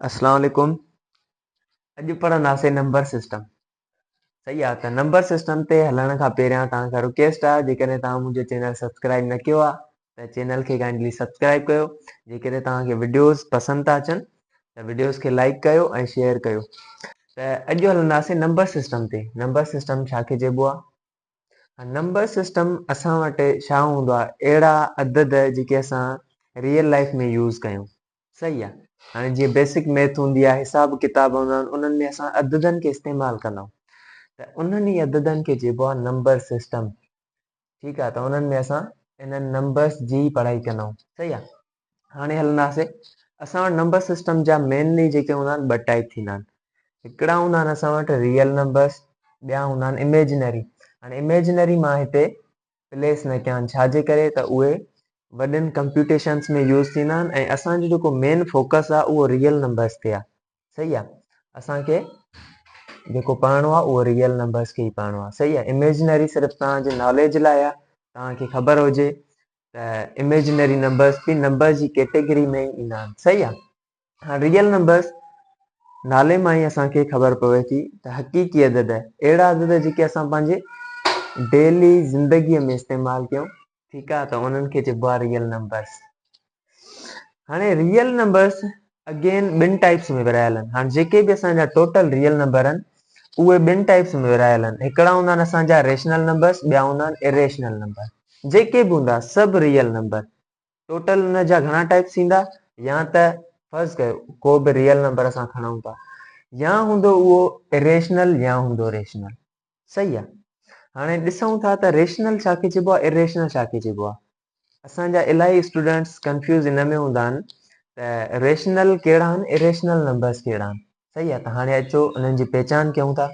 اسلام عليڪم اڄ پڙهنداسين نمبر سسٽم صحيح آ ته نمبر سسٽم تي هلڻ کان پهريان توهان کان رڪويسٽ آ جيڪڏهن توهان منهنجو چينل سبسڪرائب نه ڪيو آ ته چينل کي ڪائنڊلي سبسڪرائب ڪيو جيڪڏهن توهان کي وڊيوز پسند ٿا اچن ته وڊيوز کي لائڪ ڪيو ۽ شيئر ڪيو ته اڄ هلنداسين نمبر سسٽم تي نمبر سسٽم ڇا کي چئبو آ نمبر سسٽم اسان وٽ ڇا هوندو آهي اهڙا عدد جيڪي اسان ريئل لائف ۾ يوز ڪيون صحيح آهي هاڻي جيئن بيسڪ ميٿ هوندي آهي حساب ڪتاب هوندا آهن انهن ۾ اسان عددن کي استعمال ڪندا آهيون ته انهن ئي عددن کي چئبو آهي نمبر سسٽم ٺيڪ آهي ته انهن ۾ اسان انهن نمبرس جي پڙهائي ڪندا آهيون صحيح آهي هاڻي هلنداسين اسان وٽ نمبر سسٽم جا مينلي جيڪي هوندا آهن ٻه ٽائپ ٿيندا آهن هڪڙا هوندا آهن اسان وٽ ريئل نمبرس ٻيا هوندا آهن ايميجنري هاڻي ايميجنري مان هتي پليس نه ڪيا آهن ڇاجي ڪري ته اهي وڏن ڪمپيوٽيشنس ۾ يوز ٿيندا آهن ۽ اسان جو جيڪو مين فوڪس آهي اهو ريئل نمبرس تي آهي صحيح آهي اسان کي جيڪو پڙهڻو آهي اهو ريئل نمبرس کي ئي پڙهڻو آهي صحيح آهي ايميجنري صرف توهان جي ناليج لاء آهي توهان کي خبر هجي ته اميجنري نمبرس به نمبر جي ڪيٽيگري ۾ ئي ايندا آهن صحيح آهي هاڻ ريئل نمبرس نالي مان ئي اسان کي خبر پوي ٿي ته حقيقي عدد اهڙا عدد جيڪي اسان پنهنجي ڊيلي زندگي ۾ استعمال ڪيون ٺيڪ آهي ته انهن کي چئبو آهي ريئل نمبرس هاڻي ريئل نمبرس اگين ٻن ٽائپس ۾ ورهايل آهن هاڻ جيڪي به اسان جا ٽوٽل ريئل نمبر آهن اهي ٻن ٽائپس ۾ ورهايل آهن هڪڙا هوندا آهن اسان جا ريشنل نمبرس ٻيا هوندا آهن اريشنل نمبر جيڪي به هوندا سڀ ريئل نمبر. ٽوٽل ان جا گهڻا ٽائيپس ٿيندا يا ته فرض ڪيو ڪو به ريئل نمبر اسان کڻون ٿا يا هوندو اهو Irrational يا هوندو Rational صحيح آ هاڻي ڏسون ٿا ته Rational ڇا کي چئبو آ Irrational ڇا کي چئبو آ اسان جا الاهي اسٽوڊنٽس ڪنفيوز ان ۾ هوندا آهن ته Rational ڪهڙا آهن Irrational نمبرس ڪهڙا آهن صحيح آ ته هاڻي اچو انهن جي پهچان ڪيون ٿا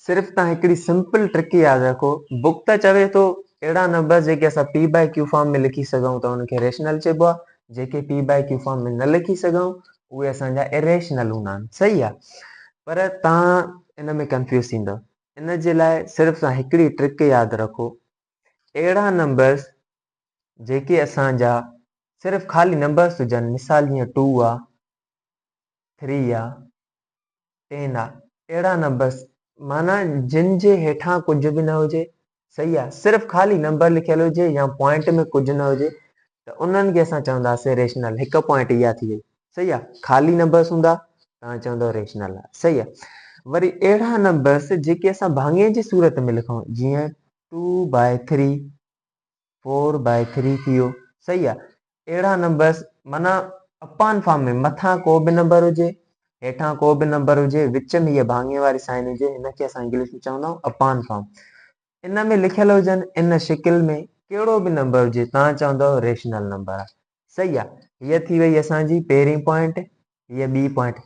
صرف تان هڪڙي سمپل ٽرڪ ياد رکو بڪ ته چوي ٿو اهڙا نمبر جيڪي اسان پي باء ڪيو فارم ۾ لکي سگهون ٿا ان کي ريشنل چئبو آهي جيڪي پي باء ڪيو فارم ۾ نه لکي سگهون اهي اسان جا اريشنل هوندا آهن صحيح آهي پر تان ان ۾ ڪنفيوز ٿيندو ان جي لاء صرف تان هڪڙي ٽرڪ ياد رکو اهڙا نمبرس جيڪي اسان جا صرف خالي نمبرس هجن مثال جيئن ٽو آهي ٿري آهي ٽيندا، ٽيڙا نه بس، معنيٰ جن جي هيٺان ڪجهه به نه هجي، صحيح آ، صرف خالي نمبر لکيل هجي يا پوائنٽ ۾ ڪجهه نه هجي ته انهن کي اسان چونداسين ريشنل، هڪ پوائنٽ اها ٿي وئي، صحيح آ، خالي نمبرس هوندا توهان چوندؤ ريشنل آ، صحيح آ، وري اهڙا نمبرس جيڪي اسان ڀاڱي جي صورت ۾ لکون، جيئن two by three, four by three ٿي ويو صحيح آ اهڙا نمبرس معنيٰ اپان فارم ۾ مٿان ڪو به نمبر هجي هيٺان ڪو به نمبر هجي وچ ۾ هيء ڀاڱي واري سائن هجي هن کي اسان انگلش ۾ چوندا آهيون اپان فارم ان ۾ لکيل هجن ان شڪل ۾ ڪهڙو به نمبر هجي تان چوندو ريشنل نمبر آ صحيح آ هيء ٿي وئي اسان جي پهرين پوائنٽ هيء ٻي پوائنٽ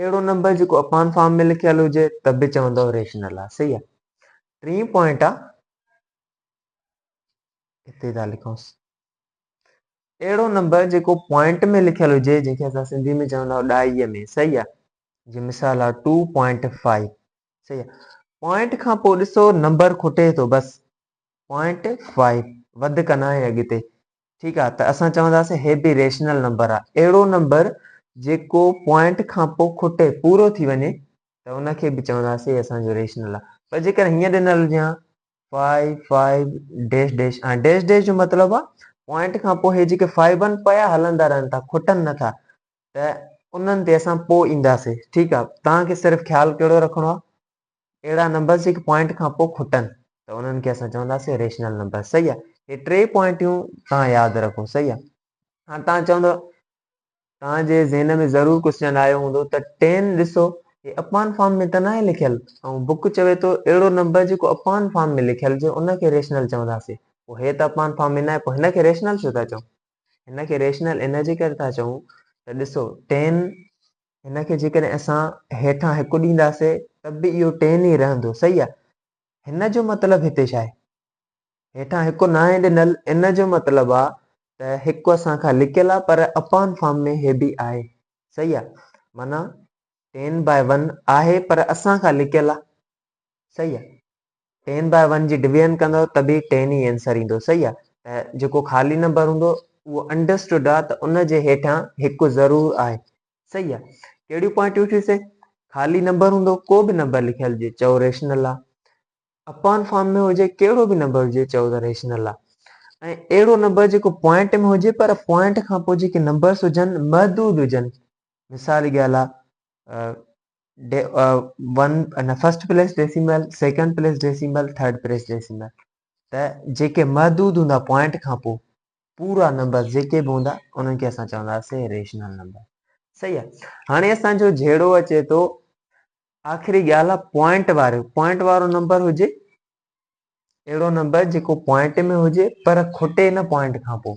اهڙو نمبر جيڪو اپان فارم ۾ لکيل هجي ته به چوندو ريشنل آ صحيح آ ٽين پوائنٽ آ هتي ٿا لکونس اهڙو نمبر جيڪو پوائنٽ ۾ لکيل هجي جنهن کي اسان سنڌي ۾ چوندا ڏائي ۾ صحيح آ جي مثال آ ٽو پوائنٽ فائيو صحيح آ پوائنٽ کان پوء ڏسو نمبر کٽي ٿو بس پوائنٽ فائيو وڌ ڪنا ۽ اڳتي ٺيڪ آ ته اسان چونداسين هي به ريشنل نمبر آ اهڙو نمبر جيڪو پوائنٽ کان پو کٽي پورو ٿي وڃي ته ان کي به چونداسين هي اسان جو ريشنل آ پر جيڪر هيئن ڏنل هجي ها five five dash dash ۽ dash dash جو مطلب آ پوائنٽ کان پو هي جيڪي فائو ون پيا هلندا رهن ٿا کٽن نه ٿا ته انهن تي اسان پو اينداسين ٺيڪ آ توهان کي صرف خيال ڪهڙو رکڻو آ اهڙا نمبرز هڪ پوائنٽ کان پوء کٽن ته انهن کي اسان چونداسين ريشنل نمبر صحيح آهي هي ٽي پوائنٽيون توهان ياد رکو صحيح آهي هاڻ توهان چوندو توهان جي ذهن ۾ ضرور ڪوسچن آيو هوندو ته ٽين ڏسو هي اپان فارم ۾ ته ناهي لکيل ۽ بوڪ چوي ٿو اهڙو نمبر جيڪو اپان فارم ۾ لکيل هجي ان کي ريشنل چونداسين پوء هي ته اپان فارم ۾ ناهي پوء هن کي ريشنل ڇو ٿا چئون هن کي ريشنل ان جي ڪري ٿا چئون ته ڏسو ٽين هن کي جيڪڏهن اسان هيٺان هڪ ڏينداسين ته به اهو ٽين ئي رهندو صحيح آهي هن جو مطلب هتي ڇا آهي هيٺان هڪ ناهي ڏنل ان جو مطلب آهي ته هڪ اسان کان لڪيل آهي پر اپان فارم ۾ هي به آهي صحيح آهي معنيٰ ٽين باء ون آهي پر اسان کان لڪيل آهي صحيح آهي ٽين باء ون جي ڊويزن ڪندؤ ته به ٽين ئي اينسر ايندو صحيح آ ته جيڪو خالي نمبر هوندو اهو انڊرسٽوڊ آ ته ان جي هيٺان هڪ ضرور آهي صحيح آ ڪهڙيون پوائنٽيون ٿيون سي خالي نمبر هوندو ڪو به نمبر لکيل هجي چئو ريشنل آ اپان فارم ۾ هجي ڪهڙو به نمبر هجي چئو ته ريشنل آ ۽ اهڙو نمبر جيڪو پوائنٽ ۾ هجي پر پوائنٽ کان پوء جيڪي نمبرس هجن محدود هجن مثال جي ڳالهه آ one first place decimal second place decimal third place decimal ته جيڪي محدود هوندا پوائنٽ کان پوء پورا نمبر جيڪي به هوندا انهن کي اسان چونداسي ريشنل نمبر صحيح آهي هاڻي اسانجو جهيڙو اچي ٿو آخري ڳالهه آهي پوائنٽ وارو پوائنٽ وارو نمبر هجي اهڙو نمبر جيڪو پوائنٽ ۾ هجي پر کٽي نه پوائنٽ کان پوء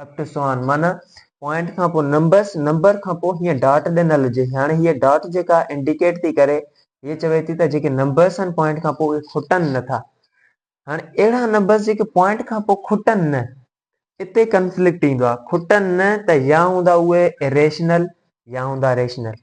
فيڪٽ سوان معنيٰ پوائنٽ کان پوء نمبرس، نمبر کان پوء هيئن ڊاٽ ڏنل هجي. هاڻي هيء ڊاٽ جيڪا انڊيڪيٽ ٿي ڪري، هيء چوي ٿي ته جيڪي نمبرس آهن پوائنٽ کان پوء اهي کٽن نه ٿا. هاڻي اهڙا نمبرس جيڪي پوائنٽ کان پوء کٽن نه، اتي ڪنفلڪٽ ايندو آهي. کٽن نه ته يا هوندا اهي Irrational يا هوندا Rational.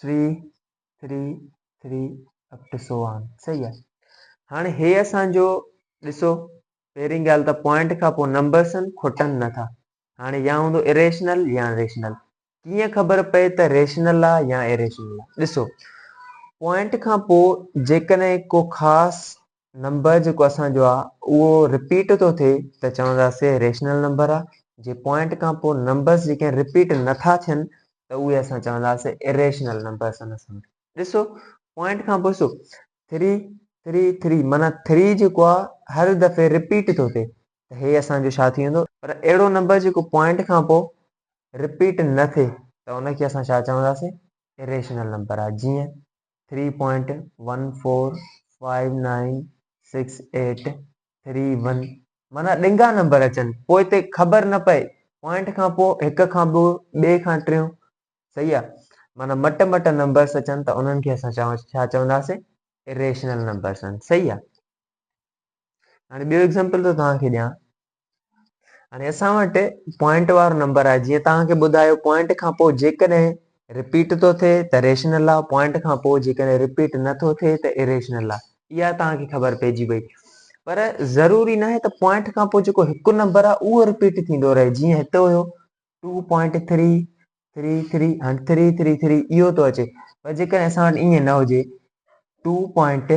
Three three three up to so on صحيح آهي هاڻي هي اسان جو ڏسو پهرين ڳالهه ته پوائنٽ کان پوء نمبرس آهن کٽن نه ٿا هاڻي يا هوندو اريشنل يا ريشنل ڪيئن خبر پئي ته ريشنل آهي يا اريشنل آهي ڏسو پوائنٽ کان پوء جيڪڏهن ڪو خاص نمبر جيڪو اسان جو آ اهو رپيٽ ٿو ٿئي ته چونداسي ريشنل نمبر آ جي پوائنٽ کان پوء نمبرس جيڪي رپيٽ نه ٿا ٿين ته اهي اسان چونداسي اريشنل نمبرس ان سان ڏسو پوائنٽ کان پوء سو 3 3 3 معنی 3 جيڪو آ هر دفعي رپيٽ ٿو ٿئي ته هي اسان جو ڇا ٿي ويندو پر اهڙو نمبر جيڪو پوائنٽ کان پوء رپيٽ نه ٿئي ته ان کي اسان ڇا چونداسي اريشنل نمبر آ جيئن three point one four five nine six eight three one معنيٰ ڏنگا نمبر اچن پوء تي خبر نه پئي پوائنٽ کان پوء هڪ کان ٻيو ٻئي کان ٽيون صحيح آ معنيٰ مٽ مٽ نمبرس اچن ته انهن کي اسان چون ڇا چونداسين اريشنل نمبرس صحيح آ هاڻي ٻيو ايگزامپل ٿو توهان کي ڏيان هاڻي اسان وٽ پوائنٽ وارو نمبر آهي جيئن توهان کي ٻڌايو پوائنٽ کان پوء جيڪڏهن رپيٽ ٿو ٿئي ته ريشنل آ پوائنٽ کان پوء جيڪڏهن رپيٽ نٿو ٿئي ته اريشنل آ اها توهان کي خبر پئجي وئي پر ضروري ناهي ته پوائنٽ کان پوء جيڪو هڪ نمبر آ اهو رپيٽ ٿيندو رهي جيئن هتي هيو two point three three three هاڻي ٿري ٿري ٿري اهو ٿو اچي پر جيڪڏهن اسان وٽ ائين نه هجي ٽو پوائنٽ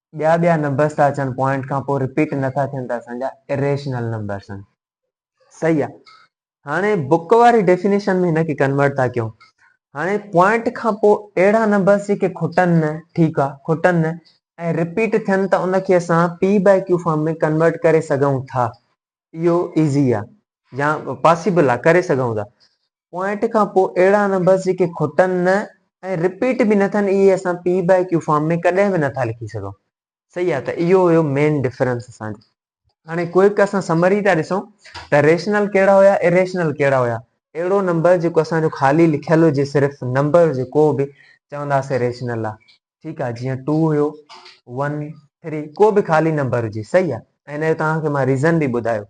ٻيا ٻيا نمبرس ٿا اچن پوائنٽ کان پوء رپيٽ نٿا ٿين ته اسان جا اريشنل نمبرس آهن صحيح آهي هاڻي بڪ واري ڊيفينيشن ۾ هن کي ڪنورٽ ٿا ڪيون هاڻي پوائنٽ کان پوء اهڙا نمبرس جيڪي کٽن نه ٺيڪ آهي کٽن نه ۽ رپيٽ ٿين ته ان کي اسان p by q form ۾ convert ڪري سگهون ٿا اهو ايزي آ يا پاسيبل آ ڪري سگهون ٿا پوائنٽ کان پوء اهڙا نمبرز جيڪي کٽن نه ۽ رپيٽ به نه ٿين اهي اسان پي بائي ڪيو فارم ۾ ڪڏهن به نه ٿا لکي سگهون صحيح آ ته اهو هيو مين ڊفرنس اسان جو هاڻي ڪوئڪ اسان سمري ٿا ڏسون ته ريشنل ڪهڙا هيا اريشنل ڪهڙا هيا اهڙو نمبر جيڪو اسان جو خالي لکيل هجي صرف نمبر هجي ڪو به چونداسين ريشنل آ ٺيڪ آ جيئن ٽو هيو ون ٿري ڪو به خالي نمبر هجي صحيح آ ۽ هن جو توهان کي مان ريزن به ٻڌايو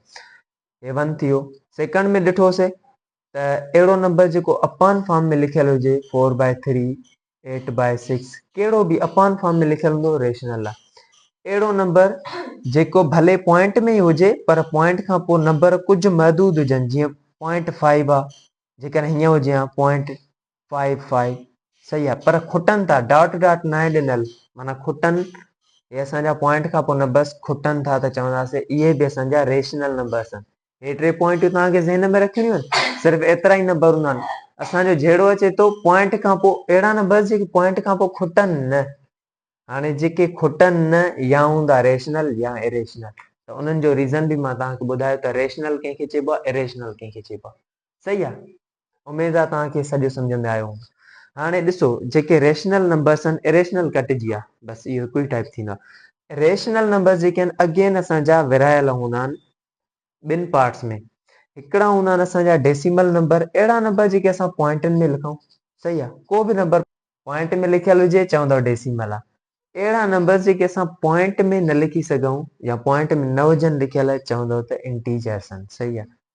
هي ون ٿيو سيڪنڊ ۾ ڏٺو سي ته اهڙو نمبر جيڪو اپان فارم ۾ لکيل هجي four by three eight by six ڪهڙو به اپان فارم ۾ لکيل هوندو ريشنل آ اهڙو نمبر جيڪو ڀلي پوائنٽ ۾ ئي هجي پر پوائنٽ کان پوء نمبر ڪجهه محدود هجن جيئن پوائنٽ فائيو آ جيڪڏهن هيئن هجي ها پوائنٽ فائي فائي صحيح آ پر کٽن ٿا ڊاٽ ڊاٽ ناهي ڏنل معنيٰ کٽن هي اسان جا پوائنٽ کان پوء نمبرس کٽن ٿا ته چونداسين اهي به اسان جا ريشنل نمبرس آهن هي ٽي پوائنٽون توهان کي ذهن ۾ رکڻيون آهن صرف ايترا ئي نمبر هوندا آهن اسان جو جهيڙو اچي ٿو پوائنٽ کان پوء اهڙا نمبرس جيڪي پوائنٽ کان پوء کٽن نه هاڻي جيڪي کٽن نه يا هوندا ريشنل يا اريشنل ته انهن جو ريزن به مان توهان کي ٻڌايو ته ريشنل ڪنهن کي چئبو آهي اريشنل ڪنهن کي چئبو آهي صحيح آ اميد آ توهان کي سڄو سمجهه ۾ آيو هوندو هاڻي ڏسو جيڪي ريشنل نمبرس آهن اريشنل ڪٽجي آ بس اهو هڪ ئي ٽائيپ ٿيندو آ ريشنل نمبرس جيڪي آهن اگين اسان جا ورهايل هوندا آهن ٻن پارٽس ۾ هڪڙا هوندا آهن اسان جا ڊيسيمل نمبر اهڙا نمبر جيڪي اسان پوائنٽن ۾ لکون صحيح آ ڪو به نمبر پوائنٽ ۾ لکيل هجي چوندو ڊيسيمل آ اهڙا نمبرس جيڪي اسان پوائنٽ ۾ نه لکي سگهون يا پوائنٽ ۾ نه هجن لکيل چوندو ته انٽيجرس آهن صحيح آ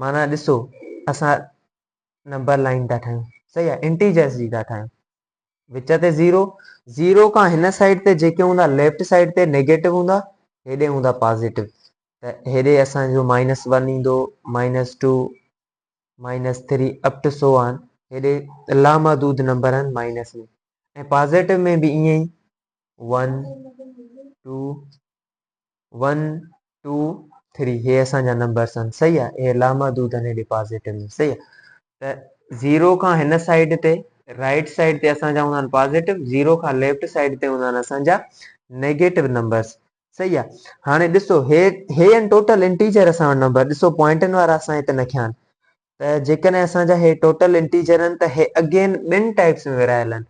معنيٰ ڏسو اسان نمبر لائين ٿا ٺاهيون صحيح آهي انٽيجرس جي ٿا ٺاهيون وچ تي زيرو زيرو کان هن سائيڊ تي جيڪي هوندا ليفٽ سائيڊ تي نيگيٽو هوندا هيڏي هوندا پازيٽو ته هيڏي اسانجو مائنس ون ايندو minus two minus three up to so on هيڏي لامحدود نمبر آهن مائنس ۾ ۽ پازيٽو ۾ به ائين ئي one two one two three هي اسان جا نمبرس آهن صحيح آهي هي لامحدود آهن هيڏي پازيٽو ۾ صحيح آهي ته زيرو کان هن سائيڊ تي رائٽ سائيڊ تي اسان جا هوندا آهن پازيٽو زيرو کان ليفٽ سائيڊ تي هوندا آهن اسان جا نيگيٽو نمبرس صحيح آهي هاڻي ڏسو هي هي آهن ٽوٽل انٽيجر اسان وٽ نمبر ڏسو پوائنٽن وارا اسان هت نه کيا آهن ته جيڪڏهن اسان جا هي ٽوٽل انٽيجر آهن ته هي اگين ٻن ٽائپس ۾ ورهايل آهن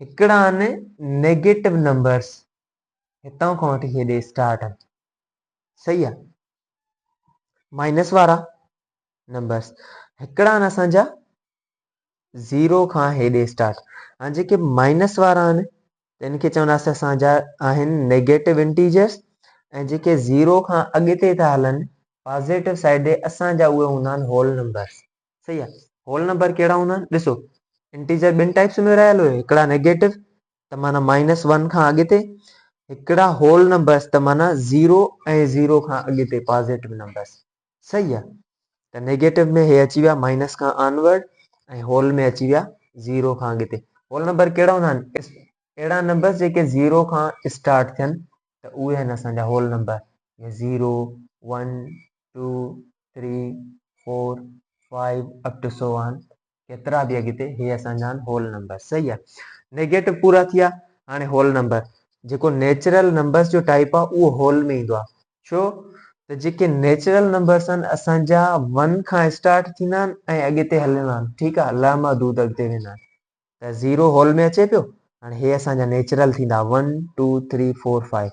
هڪڙا آهن نيگيٽو نمبرس هتان کان وٺي هيڏي اسٽارٽ آهن صحيح آ مائنس وارا نمبرس هڪڙا آهن اسان جا زيرو کان هيڏي اسٽارٽ هاڻي جيڪي مائنس وارا آهن تن کي چونداسي اسان جا آهن نيگيٽو انٽيجرس ۽ جيڪي زيرو کان اڳتي ٿا هلن پازيٽو سائيڊ ڏي اسان جا اهي هوندا آهن هول نمبرس صحيح آ هول نمبر ڪهڙا هوندا آهن ڏسو انٽيجر ٻن ٽائپس ۾ رهيل هيو هڪڙا نيگيٽو ته معنيٰ مائنس ون کان اڳتي هڪڙا هول نمبرس ته معنيٰ زيرو ۽ زيرو کان اڳتي پازيٽو نمبرس صحيح آ ته نيگيٽو ۾ هي اچي ويا مائنس کان آنورڊ ۽ هول ۾ اچي ويا زيرو کان اڳتي هول نمبر ڪهڙا هوندا آهن اهڙا نمبرس جيڪي زيرو کان اسٽارٽ ٿين ته اهي آهن اسان جا whole number zero one two three four five up to so on ڪيترا به اڳتي هي اسان جا هول نمبر صحيح آ نيگيٽو پورا ٿيا هاڻي هول نمبر جيڪو نيچرل نمبرس جو ٽائپ آ اهو هول ۾ ايندو آ ڇو ته جيڪي نيچرل نمبرس آهن اسان جا ون کان اسٽارٽ ٿيندا آهن ۽ اڳتي هلندا آهن ٺيڪ آ لا محدود اڳتي ويندا آهن ته زيرو هول ۾ اچي پيو هاڻي هي اسان جا نيچرل ٿيندا one two three four five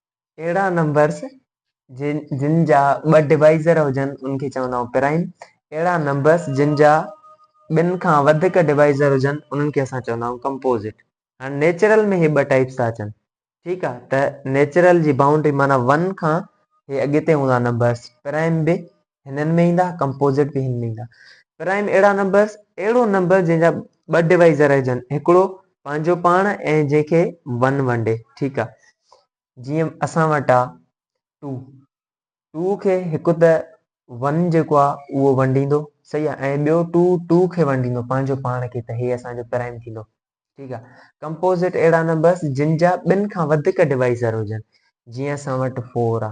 اهڙا نمبرز جن جن جا ٻه ڊوائيزر هجن ان کي چوندا آهيون پرائيم. اهڙا نمبرز جن جا ٻن کان وڌيڪ ڊوائيزر هجن انهن کي اسان چوندا آهيون ڪمپوزٽ. هاڻي نيچرل ۾ هي ٻه ٽائيپس ٿا اچن ٺيڪ آهي ته نيچرل جي بائونڊري معنيٰ ون کان هي اڳتي هوندا نمبرز پرائيم به هنن ۾ ايندا ڪمپوزٽ به هن ۾ ايندا پرائم اهڙا نمبرس اهڙو نمبر جنهن جا ٻه ڊوائيزر هجن هڪڙو پنهنجو پاڻ ۽ جنهن کي ون ونڊي ٺيڪ آ جيئن اسان وٽ آ ٽو ٽو کي هڪ ته ون جيڪو آ اهو ونڊيندو صحيح آ ۽ ٻيو ٽو ٽو کي ونڊيندو پنهنجو پاڻ کي ته هي اسان جو پرائم ٿيندو ٺيڪ آ ڪمپوزٽ اهڙا نمبرس جن جا ٻن کان وڌيڪ ڊوائيزر هجن جيئن اسان وٽ فور آ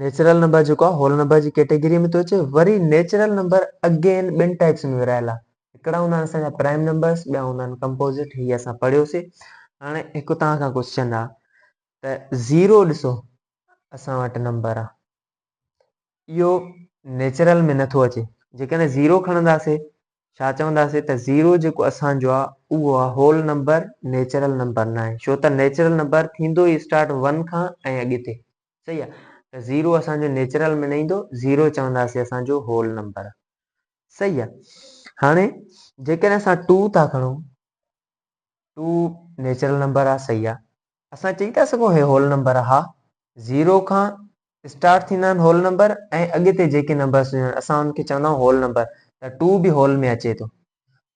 نيچرل نمبر جيڪو آ هول نمبر جي ڪيٽيگري ۾ ٿو اچي وري نيچرل نمبر اگين ٻن ٽائپس ۾ ورهايل آ هڪڙا هوندا آهن اسان جا پرائم نمبرس ٻيا هوندا آهن ڪمپوزٽ هي اسان پڙهيوسي هاڻي هڪ توهان کان ڪوشچن آ ته زيرو ڏسو اسان وٽ نمبر آ اهو نيچرل ۾ نٿو اچي جيڪڏهن زيرو کڻنداسي ڇا چونداسي ته زيرو جيڪو اسان جو آ اهو آ هول نمبر نيچرل نمبر ناهي ڇو ته نيچرل نمبر ٿيندو ئي اسٽارٽ ون کان ۽ اڳتي صحيح آ ته زيرو اسان جو نيچرل ۾ نه ايندو زيرو چونداسين اسان جو هول نمبر صحيح آ هاڻي جيڪڏهن اسان ٽو ٿا کڻو ٽو نيچرل نمبر آ صحيح آ اسان چئي ٿا سگهون هي هول نمبر آ ها زيرو کان اسٽارٽ ٿيندا آهن هول نمبر ۽ اڳتي جيڪي نمبرس هجن اسان ان کي چوندا آهيون هول نمبر ته ٽو به هول ۾ اچي ٿو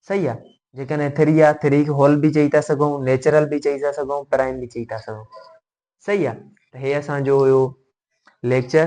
صحيح آ جيڪڏهن اٿيري آ ٿريڪ هول به چئي ٿا سگهون نيچرل به چئي ٿا سگهون پرائم به چئي ٿا سگهون صحيح آ ته هي اسان جو هيو ليڪچر